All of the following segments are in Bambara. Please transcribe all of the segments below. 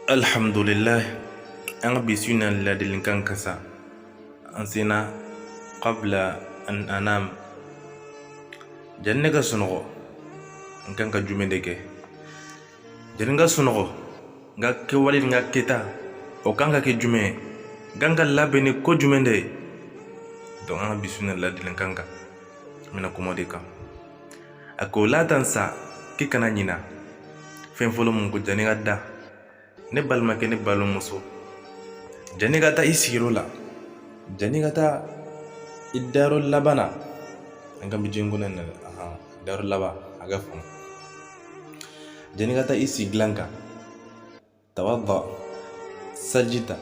alhamdulillah an ka bi su na ladilikan kan sa an sinna qabla an anam janni ne ka sunɔgɔ n kan ka jumɛn de kɛ janni n ka sunɔgɔ n ka kɛwale ni n ka kɛta o kan ka kɛ jumɛn ye n kan ka labɛn ni ko jumɛn de ye donc an ka bi su na ladilikan kan n bɛna kuma o de kan a ko la tansa k'i kana ɲina fɛn fɔlɔ mun kɔ jani ka da ne balimakɛ ne balimamuso jani ka taa i siyɔrɔ la jani ka taa i dayɔrɔ laban na an ka bi jɛn kɔnɔ na dayɔrɔ laban a ka faamu jani ka taa i sigi dilan kan tawadda seliji ta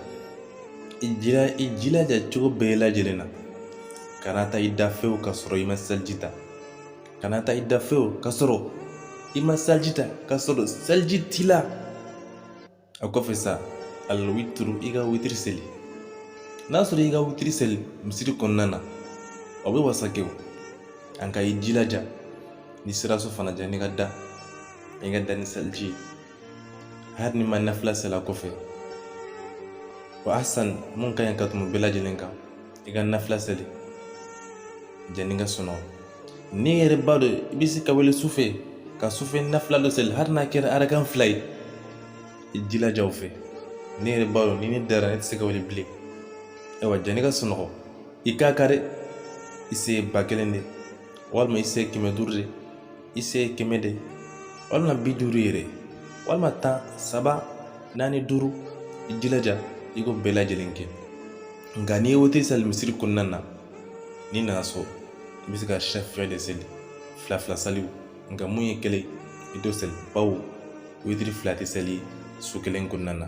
i jilaja cogo bɛɛ lajɛlen na kana taa i da fewu ka sɔrɔ i ma seliji ta kana taa i da fewu ka sɔrɔ i ma seliji ta ka sɔrɔ seliji t'i la a kɔfɛ sa alwituru i ka witiri seli n'a sɔrɔ i ka witiri seli misiri kɔnɔna na o bɛ wasa kɛ o nka i jilaja n'i sera so fana jani ka da i ka da ni seliji ye hali n'i ma nafila seli a kɔfɛ wa ahsan mun ka ɲi ka tɛmɛ o bɛɛ lajɛlen kan i ka nafila seli janni ka sunɔgɔ n'i yɛrɛ b'a dɔn i bɛ se ka wuli sufɛ ka sufɛ nafila dɔ seli hali n'a kɛra arakan fila ye i jilaja o fɛ ne yɛrɛ b'a dɔn ni ne dara ne tɛ se ka wuli bilen ayiwa janni ka sunɔgɔ i k'a kari i se ba kelen de walima i se kɛmɛ duuru de i se kɛmɛ de walima bi duuru yɛrɛ walima tan saba naani duuru i jilaja i k'o bɛɛ lajɛlen kɛ nka n'i ye witiri sali misiri kɔnɔna na n'i nana so i bɛ se ka shɛfa de seli fila fila saliw nka mun ye kelen i t'o seli bawo witiri fila tɛ seli su kelen kɔnɔna na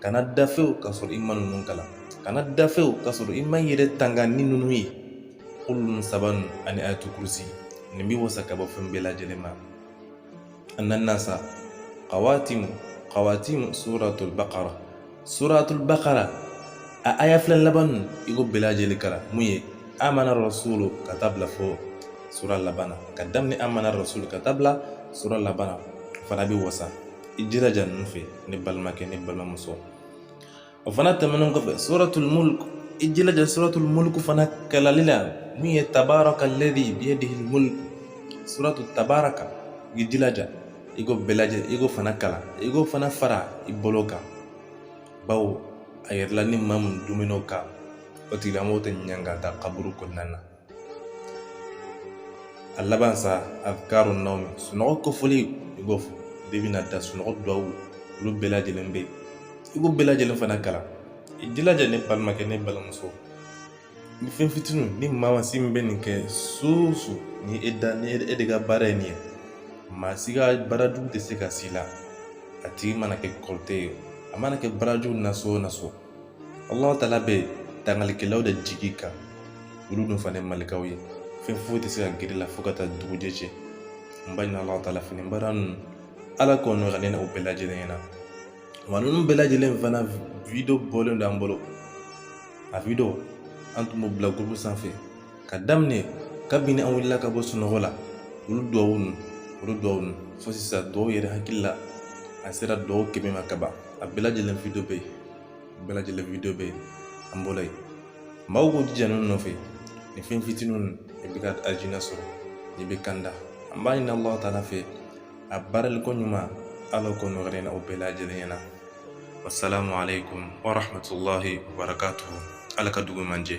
kana da fewu ka sɔrɔ i ma ninnu kalan kana da fewu ka sɔrɔ i ma i yɛrɛ tanga ni ninnu ye kulu ninnu saba ninnu ani ayatu kurusi nin bɛ wasa ka bɔ fɛn bɛɛ lajɛlen ma a nana sa kawatimu kawatimu suratul bakara suratul bakara a aya fila laban ninnu i k'o bɛɛ lajɛlen kalan mun ye amana rasulu ka taa bila fo sura laban na ka daminɛ amana rasulu ka taa bila sura laban na o fana bɛ wasa i jilaja ninnu fɛ ne balimakɛ ne balimamuso o fana tɛmɛnen kɔfɛ suratul mulk i jilaja suratul mulk fana kalanni la min ye tabaraka ladi biyadihi mulk suratu tabaraka i jilaja i k'o bɛɛ lajɛ i k'o fana kalan i k'o fana fara i bolo kan bawo a yirala ni maa mun duumɛn'o kan o tigilamɔgɔ tɛ ɲangata kaburu kɔnɔna na a laban sa azkaru nawmi sunɔgɔ kofɔli i b'o fɔ de bɛna da sunɔgɔ duwawu olu bɛɛ lajɛlen bɛ yen i k'o bɛɛ lajɛlen fana kalan i jilaja ne balimakɛ ne balimamuso nin fɛn fitiniw ni maasi min bɛ nin kɛ su su ni e da ni e de ka baara ye nin ye maa si ka baarajugu tɛ se ka s'i la a tigi mana kɛ kɔrɔtɛ ye a mana kɛ baarajugu naso o naso Allah tala bɛ tangalikɛlaw de jigi i kan olu dun fana malikaw ye fɛn foyi tɛ se ka gɛrɛ i la fo ka taa dugujɛ cɛ n b'a ɲini Allah tala fɛ nin baara ninnu ala k'o nɔgɔya ne n'aw bɛɛ lajɛlen ɲɛna wa ninnu bɛɛ lajɛlen fana video bɔlen don an bolo a video an tun b'o bila groupe sanfɛ ka daminɛ kabini an wulila ka bɔ sunɔgɔ la olu duwawu ninnu olu duwawu ninnu fo sisan duwawu yɛrɛ hakili la a sera duwawu kɛmɛ ma ka ban a bɛɛ lajɛlen video bɛ yen bɛɛ lajɛlen video bɛ yen an bolo yen maaw k'u jija ninnu nɔfɛ nin fɛn fitininw ninnu i bɛ ka aljina sɔrɔ n'i bɛ kanda an b'a ɲini alahu taala fɛ a baaraliko ɲuman ala k'o nɔgɔya ne n'aw bɛɛ lajɛlen ɲɛna wasalamu aleykum warahmatulahi wabarakatuhu ala ka dugu ɲuman jɛ